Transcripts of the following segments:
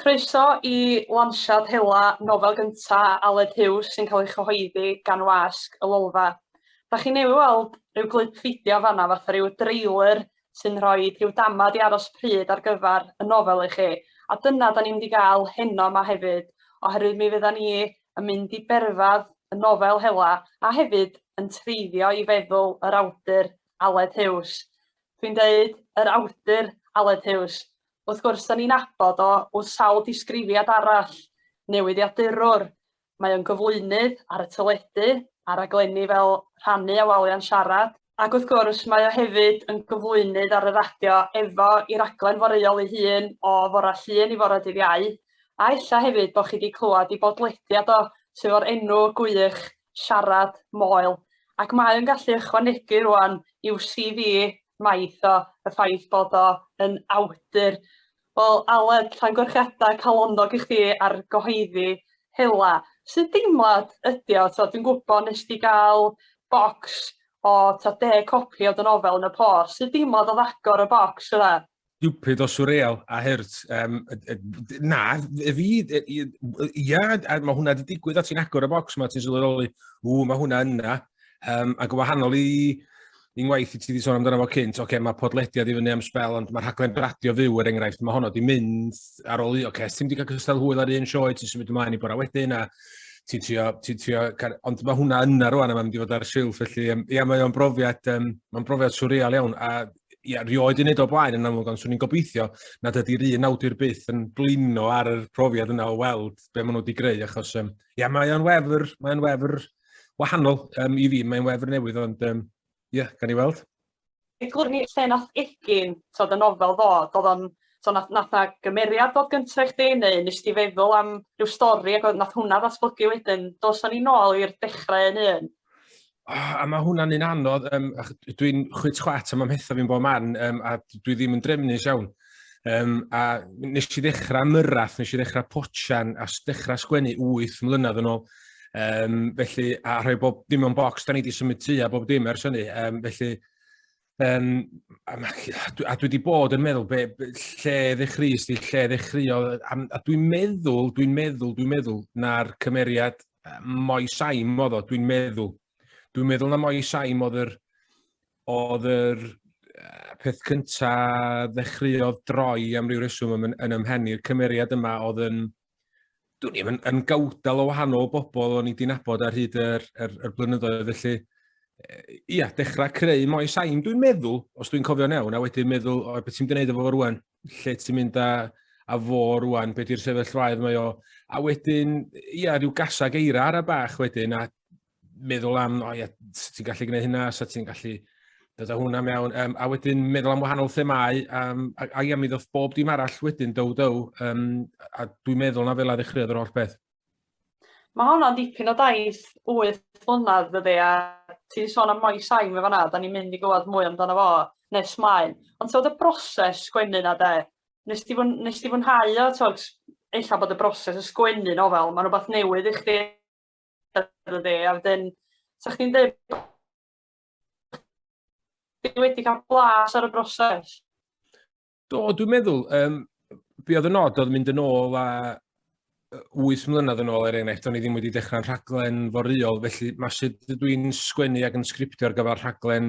Croeso i lansiad hela nofel gynta Aled Huws sy'n cael ei chyhoeddi gan Wasg y Lolfa. Dach chi newydd weld rhyw glip fideo fanna fatha rhyw dreiler sy'n rhoi rhyw damad i aros pryd ar gyfer y nofel i chi a dyna da ni'n mynd i gael heno yma hefyd oherwydd mi fydda ni yn mynd i berfedd y nofel hela a hefyd yn treiddio i feddwl yr awdur Aled Huws. Dwi'n deud yr awdur Aled Huws. Wrth gwrs, da ni'n abod o wrth sawl disgrifiad arall, newyddiadurwr, mae o'n gyflwynydd ar y teledu, ar raglenni fel Rhannu a Walia'n Siarad, ac wrth gwrs mae o hefyd yn gyflwynydd ar y radio efo i raglen foreuol ei hun o fore Llun i fore dydd Iau, a ella hefyd bod chi wedi clywed ei bodlediad o sydd o'r enw gwych siarad, moel, ac mae o'n gallu ychwanegu rŵan i'w CV maith o, y ffaith bod o yn awdur. Wel, Aled, llongyfarchiadau calonnog i chdi ar gyhoeddi hela. Sut deimlad ydi o? So, dwi'n gwybod nes di gael bocs o ta deg copi o dy nofel yn y post. Sut deimlad oedd agor y bocs yna? stupid o surreal a hurt. Um, na, y fi, ia, a mae hwnna wedi digwydd a ti'n agor y bocs mae ti'n sylweddoli, ww, mae hwnna yna. Um, ac yn wahanol i i ngwaith i ti wedi sôn amdano fo cynt, oce, okay, mae podlediad i fyny am spel, ond mae'r rhaglen radio fyw er enghraifft, mae honno wedi mynd ar ôl i, oce, okay, ti'n wedi cael cystal hwyl ar un sioe, ti'n symud ymlaen i bora wedyn, a ti'n trio, ti'n trio, ond mae hwnna yna rwan a mae'n mynd i fod ar y silff, felly, ia, mae o'n brofiad, um, mae'n brofiad surreal iawn, a ia, rioed yn neud o blaen yn amlwg, ond swn i'n gobeithio nad ydy'r un awdur byth yn blino ar y profiad yna o weld be maen nhw wedi greu, achos um, ia, mae o'n wefr, mae o'n wefr wahanol um, i fi, mae'n wefr newydd, ond um, ia, gan i weld. Eglur ni lle nath egin, so dy nofel ddod, oedd o'n So nath, nath na gymeriad dod gyntaf i chdi neu nes ti feddwl am rhyw stori ac oedd nath hwnna ddatblygu wedyn. Dos ni nôl i'r dechrau yn un. Oh, a mae hwnna'n un anodd, um, dwi'n chwyt chwat am amhetha fi'n bod man, um, a dwi ddim yn drefnus iawn. Um, a nes i ddechrau myrrath, nes i ddechrau potian, a ddechrau sgwennu 8 mlynedd yn ôl. Um, felly, a rhoi bob dim o'n bocs, da ni wedi symud tu a bob dim ers hynny. Um, felly, Um, a, a dwi wedi bod yn meddwl be, be, lle ddechreuus di, lle ddechreuo, a, a dwi'n meddwl, dwi'n meddwl, dwi'n meddwl, na'r cymeriad Moi Saim oedd o, dwi'n meddwl. Dwi'n meddwl na Moi Saim oedd yr, oedd yr peth cyntaf ddechreuodd droi am ryw reswm yn, yn ymhen i'r cymeriad yma oedd yn, Dwi'n ddim yn, yn gawdal o wahanol bobl o'n i wedi nabod ar hyd yr, yr, yr blynyddoedd, felly ia, dechrau creu mwy sain, dwi'n meddwl, os dwi'n cofio'n iawn, a wedyn meddwl, o, beth ti'n mynd i wneud efo fo rwan? Lle ti'n mynd a, a fo rwan? Be di'r sefyllfaoedd mae o? A wedyn, ia, rhyw gasag eira ar y bach wedyn, a meddwl am, o ia, sut ti'n gallu gwneud hynna, sut ti'n gallu dod â hwnna mewn, um, a wedyn meddwl am wahanol themau, um, a, a ia, mi ddoth bob dim arall wedyn, dow, dow, um, a dwi'n meddwl na fel a ddechreuodd yr holl beth. Mae honna'n dipyn o daith 8 flynedd ydy, a ti'n sôn am Moes Sain fe fanna, da ni'n mynd i gwybod mwy amdano fo nes maen. Ond ti'n y broses sgwennu na de, nes ti, fwn, nes ti fwynhau o, ti'n ella bod y broses o sgwennu nofel, mae'n rhywbeth newydd i chdi efo fi, a wedyn 'sa chdi'n deud ti wedi cael blas ar y broses? Do, dwi'n meddwl, um, be oedd y nod oedd mynd yn ôl a 8 mlynedd yn ôl er enghraifft, o'n i ddim wedi dechrau'n rhaglen foryol, felly mae sut dwi'n sgwennu ac yn sgriptio ar gyfer rhaglen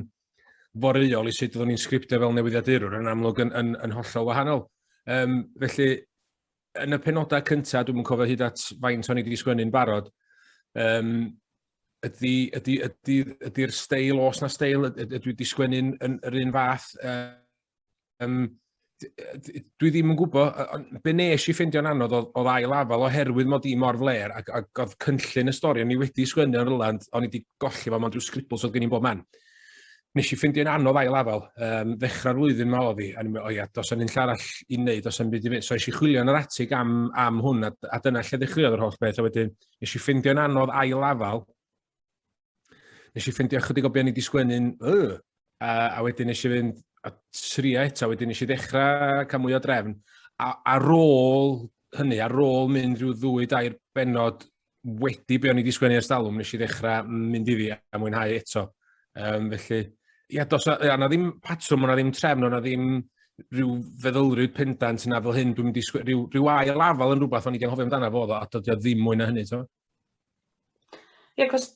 foryol i sut oeddwn i'n sgriptio fel newyddiadurwr yn amlwg yn, yn, yn hollol wahanol. Um, felly, yn y penodau cyntaf, dwi'n cofio hyd at faint o'n i wedi sgwennu'n barod, um, ydy'r ydy, ydy, ydy steil, os na steil, ydw i wedi sgwennu'n yr un fath. Um, dwi ddim yn gwybod, be nes i ffeindio'n anodd oedd, oedd ail afal oherwydd mod i mor fler ac, ac oedd cynllun y stori o'n i wedi sgwennu o'r Irland, o'n i wedi golli fo, mae'n dwi'n sgribl, so oedd gen i'n bob man. nes i ffindio'n anodd ail afel. Um, ddechrau'r flwyddyn ma oedd i, a ni'n meddwl, o ia, dos yn un arall i wneud, dos yn byd i fynd. So eisiau chwilio yn yr atig am, am hwn, a, a dyna lle ddechreuodd yr holl beth. A wedyn, nes i ffindio'n anodd ail afel. Nes i ffindio chydig o beth ni wedi sgwennu'n, uh, a, a wedyn nes i fynd a tria eto, wedyn nes i ddechrau cael mwy o drefn. A, ar ôl hynny, ar ôl mynd rhyw ddwy dair benod wedi be o'n i wedi sgwennu ers talwm, nes i ddechrau mynd iddi a mwynhau eto. Um, felly, ia, dos, ia, na ddim patrwm, na ddim trefn, na ddim rhyw feddylryd pendant yna fel hyn, dwi'n mynd i sgwennu, rhyw, rhyw ail afal yn rhywbeth o'n i wedi anghofio amdano fo, a dod o ddim mwy na hynny, ti'n Ie, yeah, cos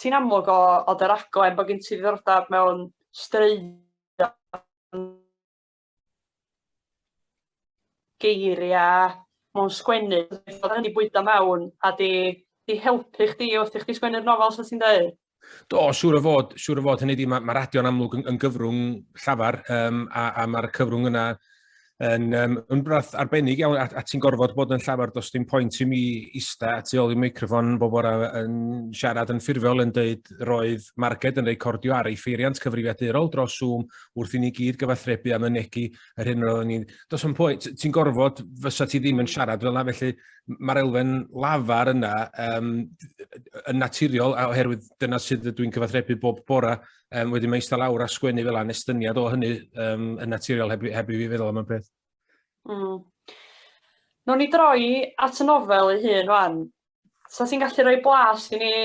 ti'n amlwg o, o dy raglen bod gen ti ddiddordeb mewn straeon geiriau mewn sgwennu, fod hynny bwydo mewn a di, di helpu chdi wrth i chdi sgwennu'r nofel sy'n ti'n dweud? Do, siŵr o fod, siŵr o fod, hynny di, mae ma radio'n amlwg yn, yn gyfrwng llafar um, a, a mae'r cyfrwng yna yn, um, yn brath arbennig iawn, a, a ti'n gorfod bod yn llafar dos dim pwynt i mi ista a tu ôl i microfon bob bora yn siarad yn ffurfiol yn dweud roedd Marged yn recordio ar ei ffeiriant cyfrifiadurol dros Zoom wrth i ni gyd gyfathrebu a mynegu yr hyn roeddwn ni'n... Does o'n pwynt, ti'n gorfod, fysa ti ddim yn siarad fel yna, felly mae'r elfen lafar yna um, yn naturiol, oherwydd dyna sydd dwi'n cyfathrebu bob bora, um, wedyn mae eistedd lawr a sgwennu fel yna, estyniad o hynny um, yn naturiol heb, heb i fi feddwl am y peth. Mm. Nw'n ni droi at y nofel ei hun rwan, 'sa ti'n gallu rhoi blas i ni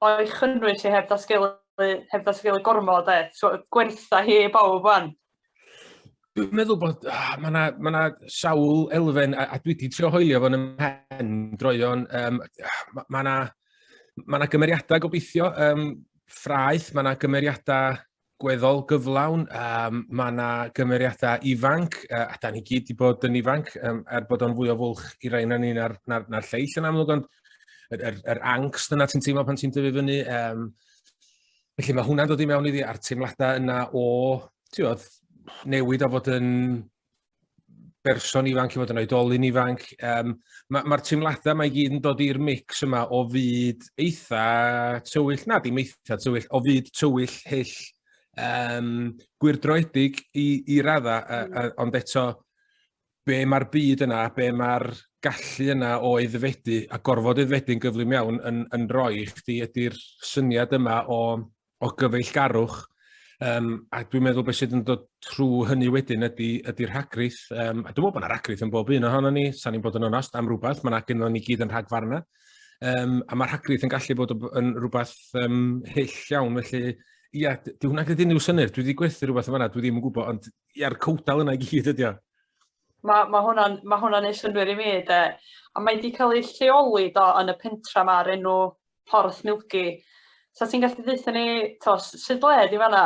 o'i chynnwys hi heb ddatgelu heb ddatgelu gormod e, so gwertha hi i bawb wan. Dwi'n meddwl bod, ah, mae yna ma na sawl elfen, a, a dwi wedi trio hoelio fo'n ymhen droion, um, mae yna ma gymeriadau gobeithio, um, ffraeth, mae yna gymeriadau gweddol gyflawn. Um, mae yna gymeriadau ifanc, uh, a da ni gyd wedi bod yn ifanc, um, er bod o'n fwy o fwlch i rai na ni na'r, na, na lleill yn amlwg, ond yr, er, er angst yna ti'n teimlo pan ti'n dyfu fyny. Um, felly mae hwnna'n dod i mewn iddi a'r teimladau yna o, ti'n oedd, newid o fod yn berson ifanc, i fod yn oedolyn ifanc. Um, Mae'r ma, teimladau mae gyd yn dod i'r mix yma o fyd eitha tywyll, na dim eitha tywyll, o fyd tywyll hyll um, gwyrdroedig i, i radda, a, a, mm. ond eto be mae'r byd yna, be mae'r gallu yna o eddfedu a gorfod eddfedu'n gyflym iawn yn, yn rhoi i chdi ydy'r syniad yma o o gyfeillgarwch, um, a dwi'n meddwl beth sydd yn dod trwy hynny wedyn ydy, ydy rhagrith. Um, a dwi'n meddwl bod yna rhagrith yn bob un ohono ni, sa'n ni'n bod yn onast am rhywbeth, mae yna gyda ni gyd yn rhagfarna. Um, a mae rhagrith yn gallu bod yn rhywbeth um, hyll iawn, felly ia, dwi'n hwnna gyda unrhyw synnwyr, dwi wedi gwerthu rhywbeth yma, dwi ddim yn gwybod, ond ia'r cwdal yna i gyd ydi o. Mae ma hwnna'n ma hwnna neud synnwyr i mi, de. A mae wedi cael ei lleoli do, yn y pentra yma ar enw Porth Milgi. So ti'n gallu ddeitha ni, to, sydd ble di fanna?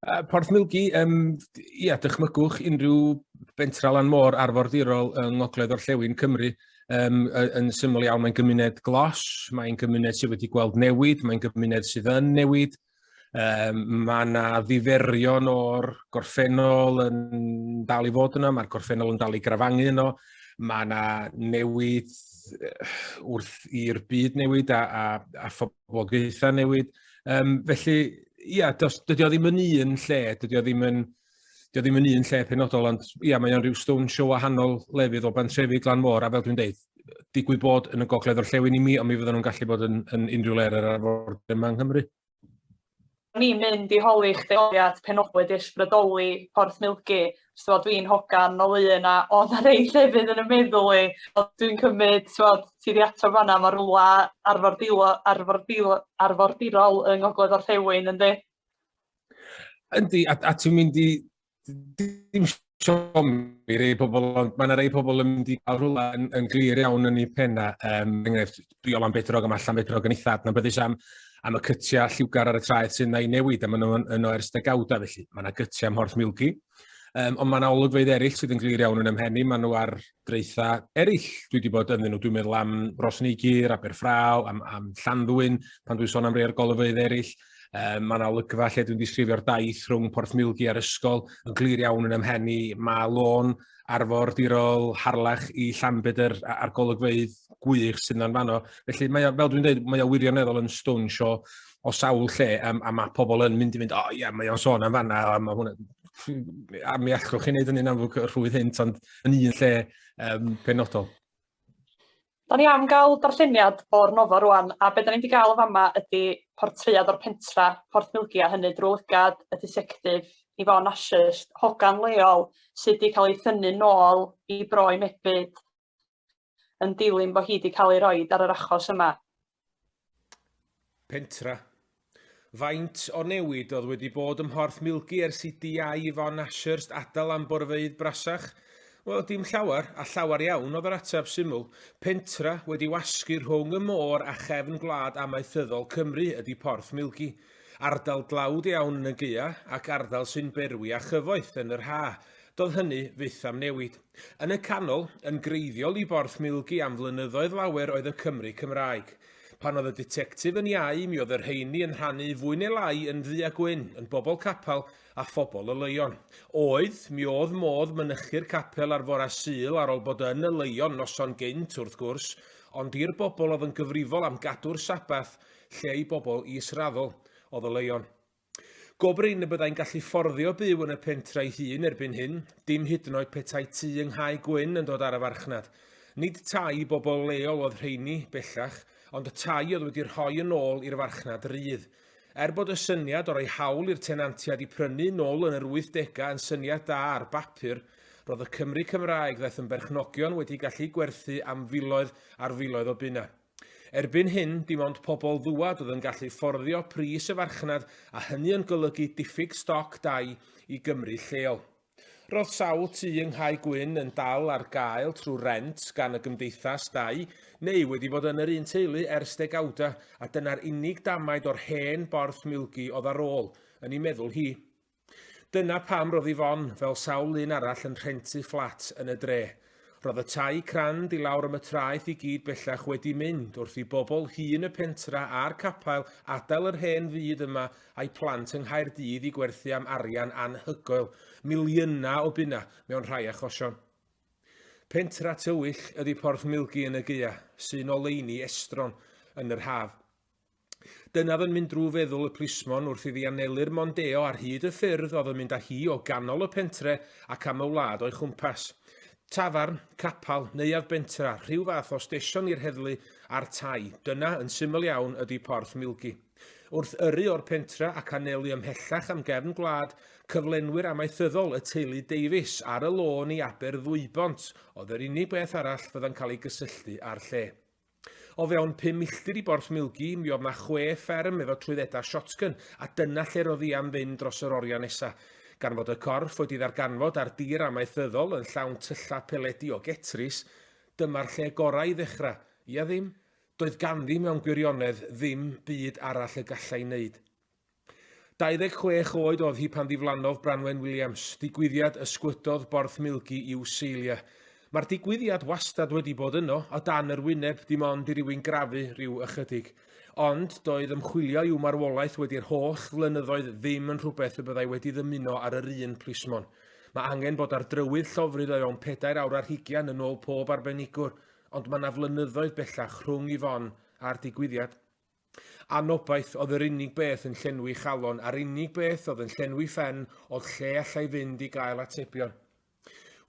Uh, Porth Milgi, um, ia, dychmygwch unrhyw bentra lan môr arfordirol yng Ngogledd Orllewin Cymru. Um, yn syml iawn, mae'n gymuned glos, mae'n gymuned sydd wedi gweld newid, mae'n gymuned sydd yn newid, Um, mae yna ddiferion o'r gorffennol yn dal i fod yna, mae'r gorffennol yn dal i grafangu yno, mae yna newid wrth i'r byd newid a, a, a phoblogaethau newid. Um, felly, ia, does, dydy o ddim yn un lle, dydy o ddim yn Dio ddim yn un lle penodol, ond ia, mae o'n rhyw stone show wahanol lefydd o bantrefi glan môr, a fel dwi'n deud, digwydd bod yn y gogledd o'r llewn i mi, ond mi fydden nhw'n gallu bod yn, yn unrhyw le ar yr arfor yma yng Nghymru. Ni'n mynd i holi chdi oliad penodol wedi ysbrydoli Porth Milgi. So, dwi'n hogan o lun a o na rei llefydd yn y meddwl i. Dwi'n cymryd, so, ti di ato fanna, mae rhywle arfordirol, arfordirol, arfordirol yng Ngogledd Orllewin, ynddi? Yndi, a, a ti'n mynd i... Dim siom i rei pobl, ond mae yna rei pobl yn mynd i cael rhywle yn, yn glir iawn yn ei penna. Um, enghraifft, Briol am Bedrog am allan Bedrog yn eitha adnabyddus am, am y cytiau lliwgar ar y traeth sy'n ei newid, a maen nhw'n yn o ers degawda, felly mae yna gytiau am Horth Milgi. Um, ond mae yna olygfeydd eraill sydd yn glir iawn yn ymhenni, maen nhw ar dreitha eraill. Dwi wedi bod ynddyn nhw, dwi'n meddwl am Rosneigyr, Aberffraw, am, am Llanddwyn, pan dwi'n sôn am rei o'r golygfeydd eraill. Um, mae yna olygfa lle dwi'n disgrifio'r daith rhwng Porth Milgi a'r ysgol yn glir iawn yn ymhen i. Mae lôn arfordirol harlech i Llanbedr a'r golygfeydd gwych sydd yna'n fanno. Felly, mae o, fel dwi'n dweud, mae o wirioneddol yn stwn sio o sawl lle, a, a mae pobl yn mynd i fynd, o oh, ie, yeah, mae o'n sôn am fanna, a mae hwnna, a mi allwch chi wneud hynny'n amlwg rhwydd hyn, ond yn un lle um, penodol. Da ni am ga'l darlleniad o'r nofio rŵan a be' 'dan ni 'di ga'l yn fama ydi portread o'r pentra Porth Milgia hynny drw lygad y disectif Yvonne Ashurst hogan leol sy 'di ca'l ei thynnu nôl i Bro i Mebyd yn dilyn bo hi 'di ca'l ei roid ar yr achos yma. Pentra. Faint o newid oedd wedi bod ym Mhorth Milgi ers i Diau Yvonne Ashurst adael am borfeydd brasach? Wel, dim llawer, a llawer iawn oedd yr ateb syml. Pentra wedi wasgu rhwng y môr a chefn gwlad amaethyddol Cymru ydy Porth Milgi. Ardal dlawd iawn yn y gaeaf ac ardal sy'n berwi â chyfoeth yn yr haf, Doedd hynny fyth am newid. Yn y canol, yn greiddiol i Borth Milgi am flynyddoedd lawer oedd y Cymry Cymraeg. Pan oedd y ditectif yn iau, mi oedd y rheiny yn rhannu fwy neu lai yn ddu a gwyn, yn bobl capel a phobl oleuon. Oedd, mi oedd modd mynychu'r capel ar fore Sul ar ol bod yn oleuon noson gynt, wrth gwrs, ond i'r bobl oedd yn gyfrifol am gadw'r Sabbath, lle i bobl is-raddol, oedd oleuon. Go brin y byddai'n gallu fforddio byw yn y pentre'i hun erbyn hyn, dim hyd yn oed petai tŷ yng Nghae Gwyn yn dod ar y farchnad. Nid tai i bobl leol oedd rheini, bellach, ond y tai oedd wedi rhoi yn ôl i'r farchnad rydd. Er bod y syniad o roi hawl i'r tenantiaid i prynu nôl yn yr wythdegau yn syniad da ar bapur, roedd y Cymry Cymraeg ddaeth yn berchnogion wedi gallu gwerthu am filoedd ar filoedd o bunnau. Erbyn hyn, dim ond pobl ddŵad oedd yn gallu fforddio pris y farchnad a hynny yn golygu diffyg stoc dai i Gymry lleol. Roedd sawl tŷ yng Nghae Gwyn yn dal ar gael trwy rent gan y gymdeithas dai neu wedi bod yn yr un teulu ers degawdau a dyna'r unig damaid o'r hen borth milgi oedd ar ôl, yn ei meddwl hi. Dyna pam roedd Yvonne, fel sawl un arall, yn rhentu fflat yn y dre. Roedd y tai crand i lawr am y traeth i gyd bellach wedi mynd wrth i bobl hŷn y pentra a'r capael adael yr hen fyd yma a'i plant yng Nghaerdydd i gwerthu am arian anhygoel, miliynau o bunnau mewn rhai achosion. Pentra tywyll ydi Porth Milgi yn y Gaea, sy'n oleuni estron yn yr haf. Dynaf yn mynd drwy feddwl y plismon wrth iddi anelu'r Mondeo ar hyd y ffyrdd oedd yn mynd â hi o ganol y pentre ac am y wlad o'i chwmpas. Tafarn, capal, neuadd bentra, rhyw fath o stesion i'r heddlu a'r tai, dyna, yn syml iawn, ydy Porth Milgi. Wrth yrru o'r pentre ac anelu ymhellach am gefn gwlad, cyflenwyr amaethyddol y teulu Davies ar y lôn i Aber Ddwybont oedd yr unig beth arall fydda'n cael ei gysylltu â'r lle. O fewn pum milltir i Borth Milgi, mi oedd 'na chwe fferm efo trwyddedau shotgun, a dyna lle roedd hi am fynd dros yr oriau nesa. Gan fod y corff wedi ddarganfod ar dir amaethyddol yn llawn tyllau peledi o getris, dyma'r lle gorau i ddechrau, ia ddim? Doedd ganddi mewn gwirionedd ddim byd arall y gallai 'neud. 26 oed oedd hi pan ddiflannodd Branwen Williams, digwyddiad ysgwydodd Borthmilgi i'w seilia. Mae'r digwyddiad wastad wedi bod yno, o dan yr wyneb, dim ond i rywun grafu rhyw ychydig. Ond, doedd ymchwilio i'w marwolaeth wedi'r holl flynyddoedd ddim yn rhywbeth y byddai wedi ddymuno ar yr un plismon. Mae angen bod ar drywydd llofrudd o fewn pedair awr ar hugian yn ôl pob arbenigwr, ond mae 'na flynyddoedd bellach rhwng Yvonne a'r digwyddiad. Anobaith oedd yr unig beth yn llenwi chalon a'r unig beth oedd yn llenwi phen oedd lle allai fynd i gael atebion.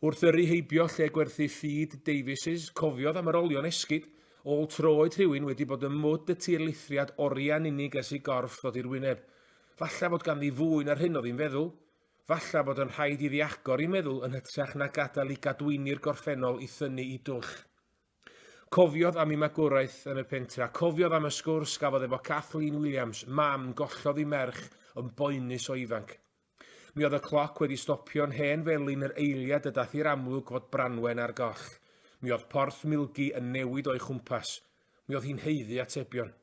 Wrth yrru heibio lle gwerthu ffid Davies's, cofiodd am yr olion esgid, ôl troed rhywun wedi bod ym mwd y tirlithriad oriau'n unig ers i gorff ddod i'r wyneb. Falle fod ganddi fwy na'r hyn oedd hi'n feddwl. Falle bod yn rhaid iddi agor ei meddwl yn hytrach na gadael i gadwyni'r gorffennol i thynnu i dwll. Cofiodd am ei magwraeth yn y pentre, a cofiodd am y sgwrs gafodd efo Kathleen Williams, mam gollodd ei merch yn boenus o ifanc. Mi oedd y cloc wedi stopio'n hen felin yr eiliad y dath i'r amlwg fod Branwen ar goll. Mi oedd porth milgi yn newid o'i chwmpas. Mi oedd hi'n haeddu atebion.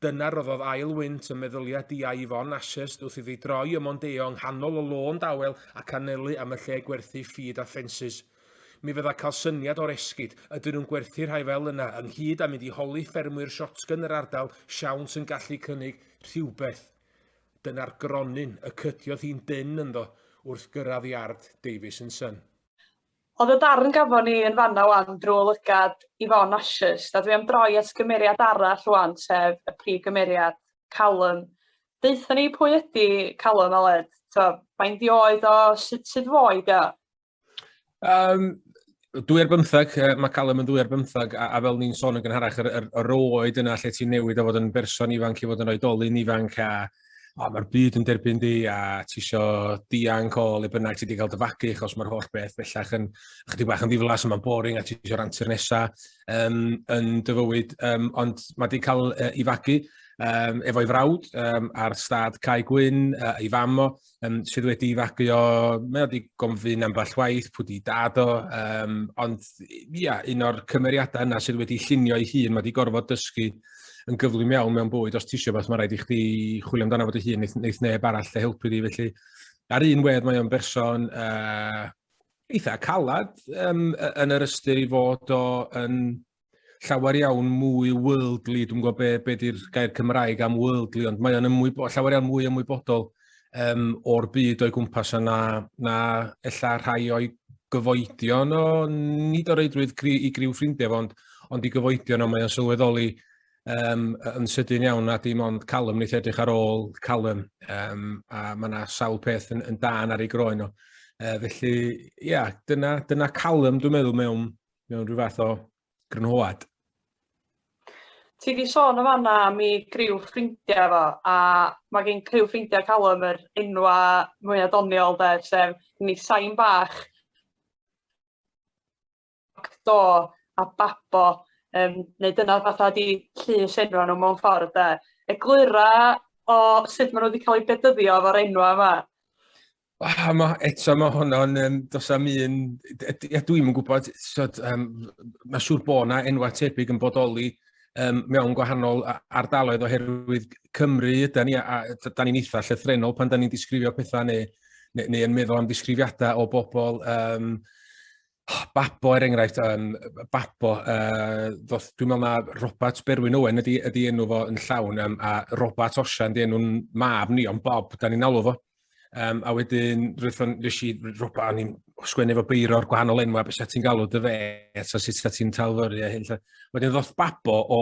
Dyna roddodd ail wynt ym meddylia di a Yvonne Ashurst wrth iddi droi ym Mondeo yng nghanol y lôn dawel ac anelu am y lle gwerthu ffîd a ffensys. Mi fydda cael syniad o'r esgid, ydyn nhw'n gwerthu rhai fel yna, ynghyd a mynd i holi ffermwyr shotgun yr ardal siawns yn gallu cynnig rhywbeth. Dyna'r gronyn y cydiodd hi'n dynn ynddo wrth gyrraedd iard Davies and Son. Ond y darn gafon ni yn fanna 'wan drwy lygad Yvonne Ashurst, a dwi am droi at gymeriad arall 'wan, sef y prif gymeriad, Callum. Deutha ni pwy ydi Callum, Aled? T'o', faint 'i oed o, sut sut fo i o? Um, dwy ar bymthag, mae Callum yn dwy ar bymthag, a, a fel ni'n sôn yn gynharach, yr, yr, yr oed yna lle ti'n newid o fod yn berson ifanc i fod yn oedolyn ifanc, a o, mae'r byd yn derbyn di a ti isio dianc o le bynnag ti wedi cael dyfagu achos mae'r holl beth bellach yn chdi bach yn ddiflas a mae'n boring a ti isio rantu'r nesa um, yn dy fywyd. Um, ond mae wedi cael uh, i fagu um, efo'i frawd um, ar stad Cai Gwyn, uh, ei fam o, um, sydd wedi fagu o, mae wedi gomfyn ambell waith, pwy di dad o, um, ond ia, un o'r cymeriadau yna sydd wedi llunio ei hun, mae wedi gorfod dysgu yn gyflym iawn mewn bwyd, os ti eisiau beth, mae rhaid i chdi chwilio amdano fod ei hun, neith, neith neb arall lle helpu di, felly ar un wedd mae o'n berson uh, eitha calad um, yn yr ystyr i fod o yn llawer iawn mwy worldly, dwi'n gwybod be, be di'r gair Cymraeg am worldly, ond mae o'n ymwybo, llawer iawn mwy ymwybodol um, o'r byd o'i gwmpas yna, na ella rhai o'i gyfoedion o, nid o reidrwydd gri, i griw ffrindiau, ond, ond i gyfoedion o mae o'n sylweddoli um, yn sydyn iawn a dim ond calym wneud edrych ar ôl calym um, a mae yna sawl peth yn, yn dan ar ei groen o. Uh, felly, ia, yeah, dyna, dyna calym dwi'n meddwl mewn mewn rhyw fath o grynhoad. Ti di sôn yn fanna am i griw ffrindiau fo, a mae gen criw ffrindiau Callum yr enwa mwyaf doniol de, sef ni sain bach, do a babo, um, neu dyna fatha di llys enwa nhw mewn ffordd de. Eglura o sut maen nhw wedi cael eu bedyddio fo'r enwa yma. Ah, ma, eto mae honno'n, um, dos am un, a dwi'm yn gwybod, so, um, mae siŵr bod yna enwau tebyg yn bodoli um, mewn gwahanol ardaloedd oherwydd Cymru, da ni, a, da ni'n eitha llythrenol pan da ni'n disgrifio pethau neu, neu, neu yn meddwl am disgrifiadau o bobl um, Babo er enghraifft, um, Babo, uh, ddoth, dwi'n meddwl na Robert Berwyn Owen ydy, ydy enw fo yn llawn, um, a Robert Osian ydy enw'n mab ni, ond Bob, da ni'n alw fo. Um, a wedyn, rwy'n nes i, Robert, o'n i'n sgwennu fo beiro o'r gwahanol enw, a beth ti'n galw dy fe, so sut ti'n talfyru a hyn. Wedyn ddoth Babo o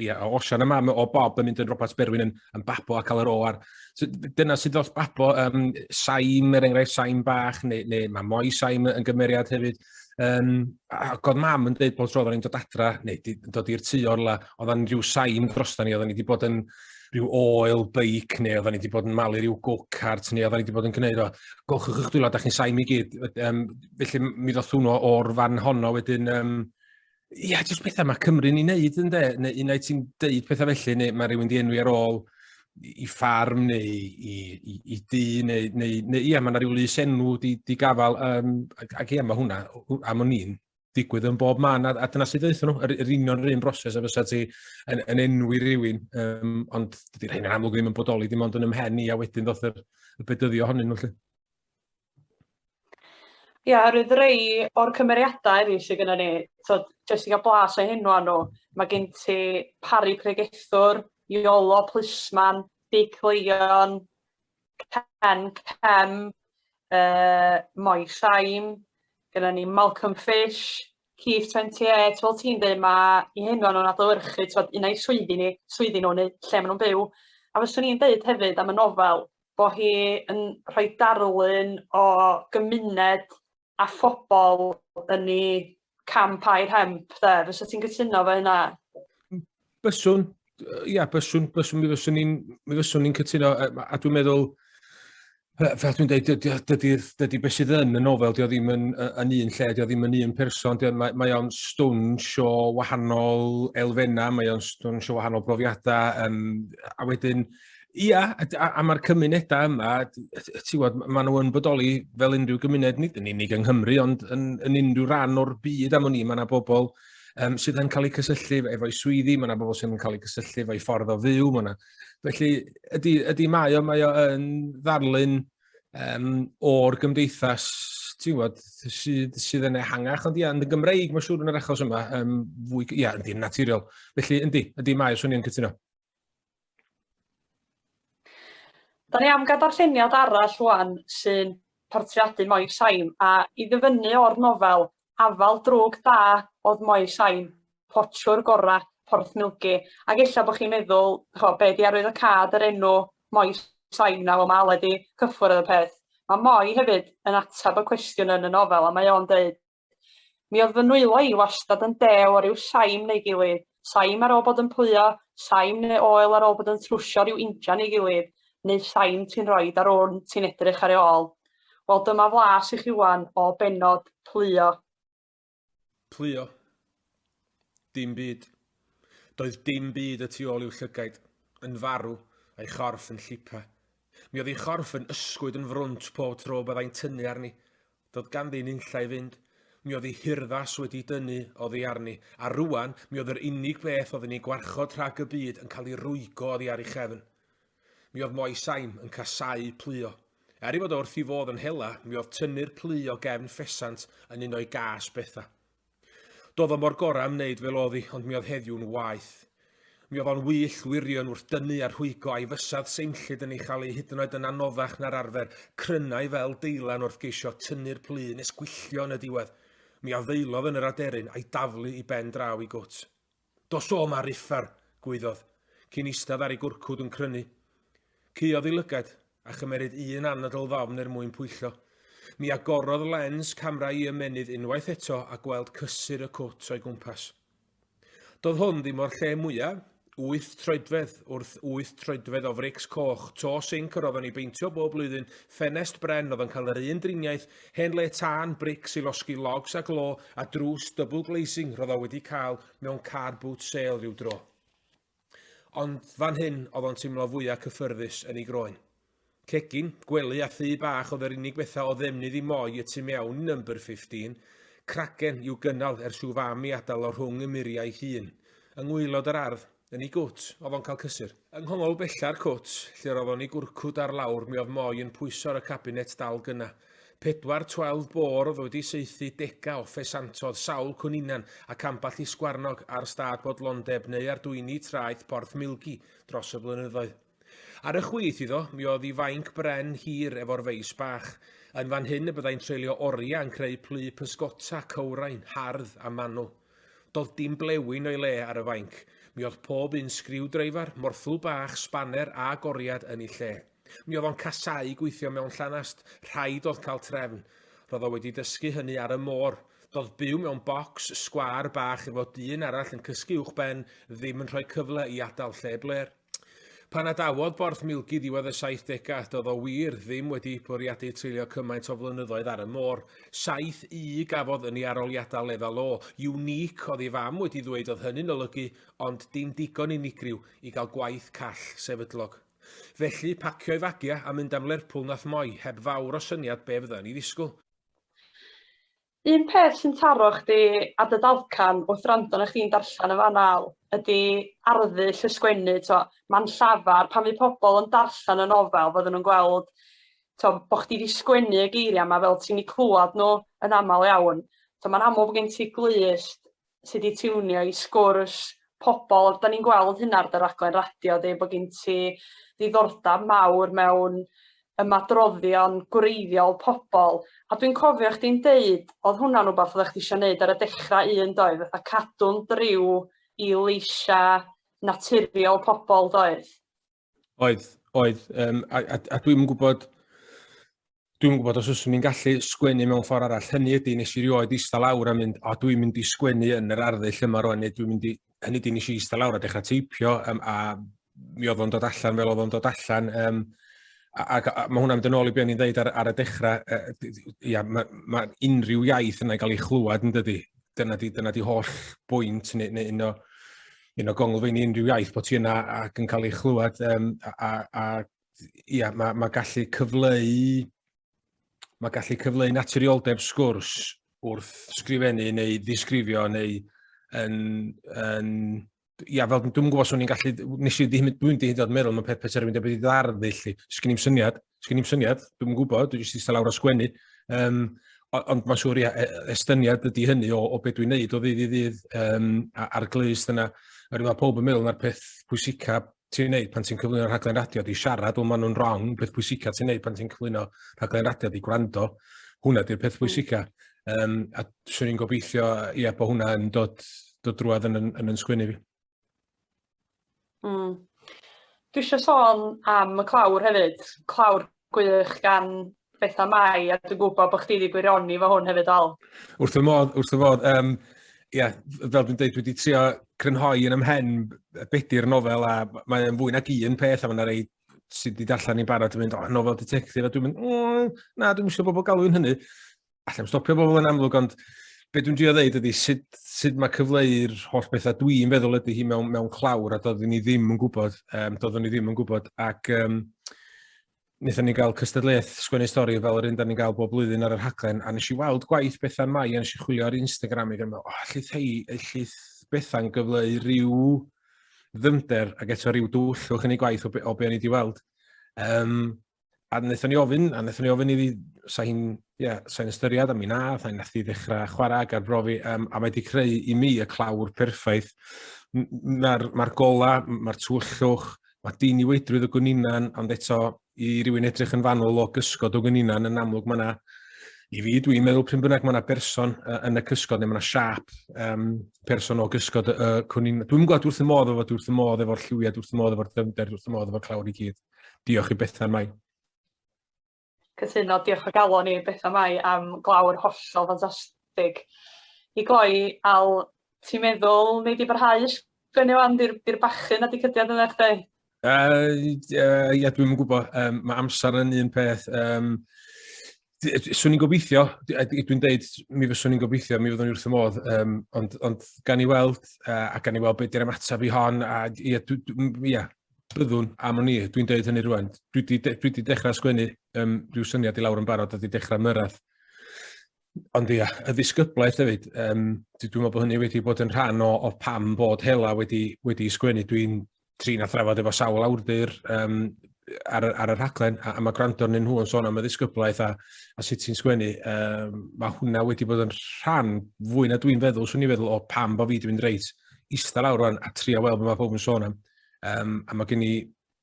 ie, yeah, Osian a mam o Bob yn mynd yn Robert Berwyn yn, yn babo a cael yr o ar... So, dyna sydd dros babo, um, saim er enghraifft, saim bach, neu, neu mae moi saim yn gymeriad hefyd. Um, a god mam yn dweud bod tro oedden ni'n dod adra, neu di, dod i'r tu o'r la, oedden rhyw saim dros da ni, oedden ni wedi bod yn rhyw oil beic, neu oedden ni wedi bod yn malu rhyw go-kart, neu oedden ni wedi bod yn gwneud o. Golchwch eich dwylo, da chi'n saim i gyd. Um, felly mi ddoth hwnnw o'r fan honno wedyn, um, Ie, yeah, jyst pethau mae Cymru'n ei wneud yn de, neu unau ti'n deud pethau felly, neu mae rhywun di enwi ar ôl i ffarm neu i, i, i dŷ, neu, neu, neu ia, mae yna rhyw lus enw di, di gafael, um, ac ia, mae hwnna, am o'n i'n digwydd yn bob man, a, a dyna sydd ddeitha nhw, yr, yr union yr un broses a fysa ti yn, yn enwi rhywun, um, ond dydy'r hyn yn amlwg ddim yn bodoli, dim ond yn ymhen i, a wedyn ddoth yr, y bedyddio honnyn nhw, lle. Ia, oherwydd rei o'r cymeriadau eraill sydd gynnon ni, tibod, jyst i gael blas o'u henwa nhw, ma' gen ti Parry Pregethwr, Iolo Plisman, Dic Leion, Ken Cem, yy Moi Shine, gynnon ni Malcolm Fish, Keith Twenty Eight, fel ti'n deud ma' 'u henwa nhw'n adlewyrchu t'mod un ai swyddi ni swyddi nhw neu lle ma' nhw'n byw a fyswn i'n deud hefyd am y nofel bo hi yn rhoi darlun o gymuned a phobl yn ei camp a'i rhemp 'de, fysa ti'n gytuno efo hynna? Byswn, ia, byswn, byswn, mi fyswn ni'n mi fyswn ni'n cytuno, a dwi'n meddwl, fel dwi'n dweud, dydy, dydy, dydy beth sydd yn y nofel, dydy o ddim yn, yn un lle, dydy o ddim yn un person, dydy, mae, mae o'n stwnsh o wahanol elfennau, mae o'n stwnsh o wahanol brofiadau, um, a wedyn, Ia, a, a, a mae'r cymunedau yma, ti'n gwybod, maen nhw yn bodoli fel unrhyw gymuned, nid yn unig yng Nghymru, ond yn, yn unrhyw ran o'r byd am ni, mae yna bobl um, sydd yn cael eu cysylltu efo'i swyddi, mae yna bobl sydd yn cael eu cysylltu efo'i ffordd o fyw, mae yna... Felly, ydy, ydy mae o, mae o yn ddarlun um, o'r gymdeithas, ti'n gwybod, sydd, sydd yn ehangach, ond ia, yn y Gymreig, mae'n siŵr yn yr achos yma, um, fwy, ia, ynddi, naturiol. Felly, ynddi, ynddi mae, swn i'n cytuno. Da ni am gael darlleniad arall rŵan sy'n portreadu Moel Sain a i ddyfynnu o'r nofel Afal Drwg Da o'dd Moel Sain, portiwr gora' Porthmilgi ag ella bo' chi'n meddwl ch'o' be' 'di arwyddocâd yr enw Moel Sain nawr ma' Aled 'di cyffwrdd y peth. Ma' Moel hefyd yn atab y cwestiwn yn y nofel a mae o'n deud Mi oedd fy nwylo i wastad yn dew o ryw saim neu'i gilydd, saim ar ôl bod yn pwyo, saim neu oel ar ôl bod yn trwsio ryw injan ei gilydd, neu saim ti'n rhoid ar wn ti'n edrych ar ei ôl. Wel dyma flas i chi ŵan o bennod Plwyo. Plwyo. Dim byd. Doedd dim byd y tu ôl i'w llygaid, yn farw, a'i chorff yn llipa. Mi oedd ei chorff yn ysgwyd yn frwnt pob tro byddai'n tynnu arni. Doedd ganddi nunlla i fynd. Mi oedd ei hurddas wedi dynnu oddi arni, a rŵan mi oedd yr unig beth oedd yn ei gwarchod rhag y byd yn cael ei rwygo oddi ar ei chefn. Mi oedd Moe Saim yn casáu pluo. Er ei fod o wrth ei fodd yn hela, mi oedd tynnu'r plu o gefn ffesant yn un o'i gâs bethau. Do'dd o mor gora am neud fel o'dd 'i, ond mi o'dd heddiw'n waeth. Mi o'dd o'n wyllt wirion wrth dynnu a rhwygo, a'i fysedd seimllyd yn ei chael ei hyd yn oed yn anoddach na'r arfer, crynnai fel deilan wrth geisio tynnu'r plu nes gwylltio yn y diwedd. Mi addeulodd yn yr aderyn, a'i daflu i ben draw i gwt. Dos o 'ma, Rifar! gwaeddodd, cyn eistedd ar ei gwrcwd yn crynu. Caeodd ei lygad, a chymeryd un anadl ddofn er mwyn pwyllo. Mi agorodd lens camra i ymennydd unwaith eto a gweld cysur y cwt o'i gwmpas. Doedd hwn ddim o'r lle mwya', wyth troedfedd wrth wyth troedfedd o frics coch, to sinc yr oedden ni beintio bob blwyddyn, ffenest bren oedd yn cael yr un driniaeth Hen le tân, brics i losgi logs a glo, a drws double glazing roedd o wedi cael mewn car boot sale rhyw dro. Ond fan hyn oedd o'n teimlo fwyaf cyffyrddus yn ei groen. Cegin, gwely a thu bach oedd yr unig bethau o ddefnydd i moi y tu mewn i number 15, cragen i'w gynnal ers i'w fam i adael o rhwng y muriau ei hun, yng ngwaelod yr ardd. Yn ei gwt, oedd o'n cael cysur. Yng nghongl bella'r cwt, lle roedd o'n ei gwrcwd ar lawr, mi oedd Moy yn pwyso ar y cabinet dal gynna. Pedwar twelve bore oedd wedi saethu dega o ffesantodd, sawl cwninan, ac amball i sgwarnog, ar stad bodlondeb neu ar dwyni traeth Porth Milgi, dros y blynyddoedd. Ar y chwith iddo, mi oedd i fainc bren hir efo'r feis bach. Yn fan hyn y byddai'n treulio oriau yn creu plu pysgota, cywrain, hardd a manwl. Do'dd dim blewyn o'i le ar y fainc. Mi oedd pob un sgriw-dreifar, morthwl bach, sbaner a goriad yn ei lle. Mi oedd o'n casau gweithio mewn llanast, rhaid oedd cael trefn. Ro'dd o wedi dysgu hynny ar y môr. Do'dd byw mewn bocs sgwâr bach efo dyn arall yn cysgu uwchben ddim yn rhoi cyfle i adal lle blêr. Pan adawodd Borthmilgi ddiwedd y 70au, doedd o wir ddim wedi bwriadu treulio cymaint o flynyddoedd ar y môr. Saith U gafodd yn ei aroliadau lefel O. Unique, oedd ei fam wedi ddweud oedd hynny'n olygu, ond dim digon unigryw i gael gwaith call sefydlog. Felly, pacio'i fagiau a mynd am Lerpwl nath Moy, heb fawr o syniad be fydda ni ddisgwyl. Un peth sy'n taro chdi ar dy dalcan wrth wrando arna chdi'n darllen yn fan'na ydi arddull y sgwennu t'wo' ma'n llafar pan fydd pobol yn darllen y nofel fydden nhw'n gweld t'wo' bo' chdi 'di sgwennu y geiria' 'ma fel ti'm 'di clŵad nhw yn amal iawn so ma'n amlwg bo' gen ti glust sy 'di tiwnio i sgwrs pobol. Da ni'n gweld hynna ar dy raglen radio di bod gin ti ddiddordeb mawr mewn ymadroddion gwreiddiol pobol a dwi'n cofio chdi'n deud oedd hwnna'n rwbath oeddech chdi eisiau neud ar y dechrau un doedd fatha cadw'n driw i leisia' naturiol pobol doedd? Oedd, oedd. Um, a, a, a dwi'n gwybod, dwi'n gwybod os yswn i'n gallu sgwennu mewn ffordd arall. Hynny ydy, nes i rioed eista lawr a mynd, o dwi'n mynd i sgwennu yn yr arddull yma rwan, neu dwi'n mynd i, hynny ydy, nes i eista lawr a dechrau teipio, um, a mi oedd o'n dod allan fel oedd o'n dod allan. Um, ac mae hwnna'n mynd yn ôl i beth ni'n dweud ar, ar y dechrau, uh, ia, mae ma unrhyw iaith yna'n cael ei chlywed yn dydy. Dyna di, dyna di holl bwynt neu, neu un o you know, gonglfein i unrhyw iaith bod ti yna ac yn cael ei chlywed. Um, a, a, a ia, mae ma gallu cyfleu mae gallu cyfleu naturioldeb sgwrs wrth sgrifennu neu ddisgrifio neu yn, yn ia, fel dwi'n gwybod swn i'n gallu, nes i ddim, dwi'n di hyd oed meddwl, mae'n peth peth erbyn dweud wedi ddardd i chi, sgyn i'n syniad, Sgyn i'n syniad, dwi'n gwybod, dwi'n jyst eistedd lawr a sgwennu. Um, ond mae'n siŵr, ia, e, estyniad ydy hynny o, o beth dwi'n neud o ddydd i ddydd um, a'r glust yna. A rwy'n pob yn meddwl na'r peth pwysica ti'n neud pan ti'n cyflwyno rhaglen radio di siarad, ond maen nhw'n wrong, peth pwysica ti'n neud pan ti'n cyflwyno rhaglen radio di gwrando. Hwna di'r peth hmm. pwysica. Um, a swn i'n gobeithio, ia, bod hwnna yn dod, dod drwad yn, yn, yn, yn sgwini fi. Hmm. Dwi isio sôn am y clawr hefyd, clawr gwych gan Betha Mai, a dwi'n gwybod bod chdi wedi gwirioni fo hwn hefyd, Al. Wrth y modd, wrth y modd. Um, yeah, fel dwi'n dweud, wedi trio crynhoi yn ymhen bedi'r nofel, a mae'n fwy nag un peth, a mae'n rhai sydd wedi darllen i'n barod yn mynd, oh, nofel detective, a dwi'n mynd, mm, na, dwi'n mysio bobl galw'n hynny. allai'n stopio bobl yn amlwg, ond be dwi'n drio ddeud ydy sut, sut mae cyfleu'r holl bethau dwi'n feddwl ydy hi mewn, mewn clawr a doeddwn ni ddim yn gwybod, um, doeddwn ni ddim yn gwybod ac um, wnaethon ni gael cystadleuaeth sgwennu stori fel yr un da ni'n gael bob blwyddyn ar yr haglen a nes i weld gwaith Bethan Mai a nes i chwilio ar Instagram i gymryd, oh, allith hei, allith Bethan gyfleu rhyw ddymder ac eto rhyw dwyllwch yn ei gwaith o be, o be o'n i wedi weld. Um, a wnaethon ni ofyn, a wnaethon ni ofyn iddi, sa hi'n yeah, sa ystyried am mi na, sa hi'n nath i ddechrau chwarae ac arbrofi, um, a mae wedi creu i mi y clawr perffaith. Mae'r ma gola, mae'r twyllwch, mae dyn i weidrwydd o gwninan, ond eto i rywun edrych yn fanwl o gysgod o gwninan, yn amlwg mae yna, i fi, dwi'n meddwl pryn bynnag mae yna berson uh, yn y cysgod, neu mae yna siap um, person o gysgod y uh, cwninan. Dwi'n gweld wrth y modd efo, wrth y modd efo'r lliwiad, wrth y modd efo'r dyfnder, wrth y modd efo'r clawr i gyd. Diolch i Bethan Mai. Cytuno, diolch o galon i Bethan Mai am glawr hollol ffantastig. I gloi, Al, ti'n meddwl neu di barhau sgwennu wan, di'r bachyn a di cydiad yn eich dweud? Uh, uh, ia, dwi'n gwybod, um, mae amser yn un peth. Um, Swn i'n gobeithio, dwi'n deud, mi fyswn i'n gobeithio, mi fyddwn ni wrth y modd, um, ond, ond gan i weld, uh, a gan i weld beth yw'r ymateb i hon, a ia, ia, byddwn am o'n i, dwi'n deud hynny rwan. Dwi wedi dechrau sgwennu um, rhyw syniad i lawr yn barod, a wedi dechrau myrraedd. Ond ia, y ddisgyblaeth hefyd, um, dwi'n meddwl bod hynny wedi bod yn rhan o, o pam bod hela wedi, wedi sgwennu. Dwi'n trin a thrafod efo sawl awdur um, ar, ar y rhaglen, a, a mae gwrando arnyn nhw yn sôn am y ddisgyblaeth a, a sut ti'n sgwennu, um, mae hwnna wedi bod yn rhan fwy na dwi'n feddwl, swn i'n feddwl o pam bod fi wedi mynd reit eistedd lawr rwan a trio weld beth mae pob yn sôn am. Um, a mae gen i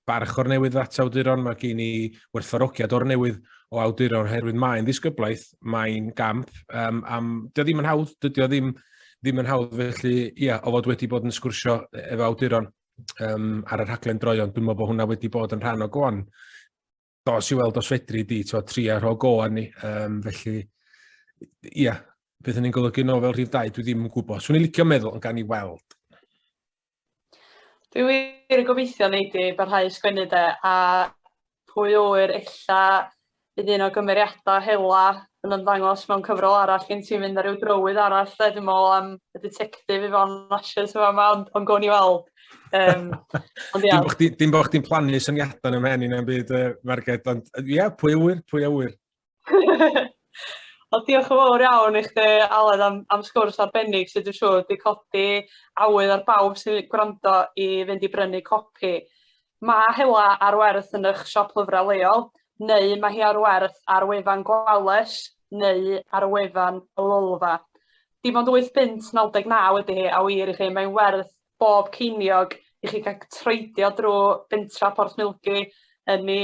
barch o'r newydd at awduron, mae gen i werthfarogiad o'r newydd o awduron, oherwydd mae'n ddisgyblaeth, mae'n gamp, um, am, dy ddim yn hawdd, dydy o ddim, ddim yn hawdd felly, ia, o fod wedi bod yn sgwrsio e- efo awduron um, ar y rhaglen droion, dwi'n meddwl bod hwnna wedi bod yn rhan o goan. Dos i weld os fedri di, to, tri ar o goan ni, um, felly, ia, beth yn ni'n golygu nôl fel rhif dau, dwi ddim yn gwybod. Swn i'n licio meddwl yn gan i weld. Dwi wir yn gobeithio nei di barhau sgwennu de a pwy a ŵyr ella bydd un o gymeriada hela yn ymddangos mewn cyfrol arall gen ti mynd ar ryw drywydd arall de dwi'n me'wl am y ditectif Yvonne Lashes yn fama ond ond gown ni weld. Yym ond ia. Dim bo' chdi dim bo' chdi'n plannu syniada yn 'y mhen i na'm byd yy Marged ond yy ia pwy a ŵyr pwy a ŵyr. Wel diolch yn fawr iawn i chdi Aled am am sgwrs arbennig sy dwi siŵr 'di codi awydd ar bawb sy'n gwrando i fynd i brynu copi. Ma' Hela ar werth yn 'ych siop lyfra leol neu ma' hi ar werth ar wefan Gwales neu ar wefan y Lolfa. Dim ond wyth punt naw deg naw ydi hi a wir i chi mae'n werth bob ceiniog i chi ga'l troedio drw bentra Porthmilgi yn i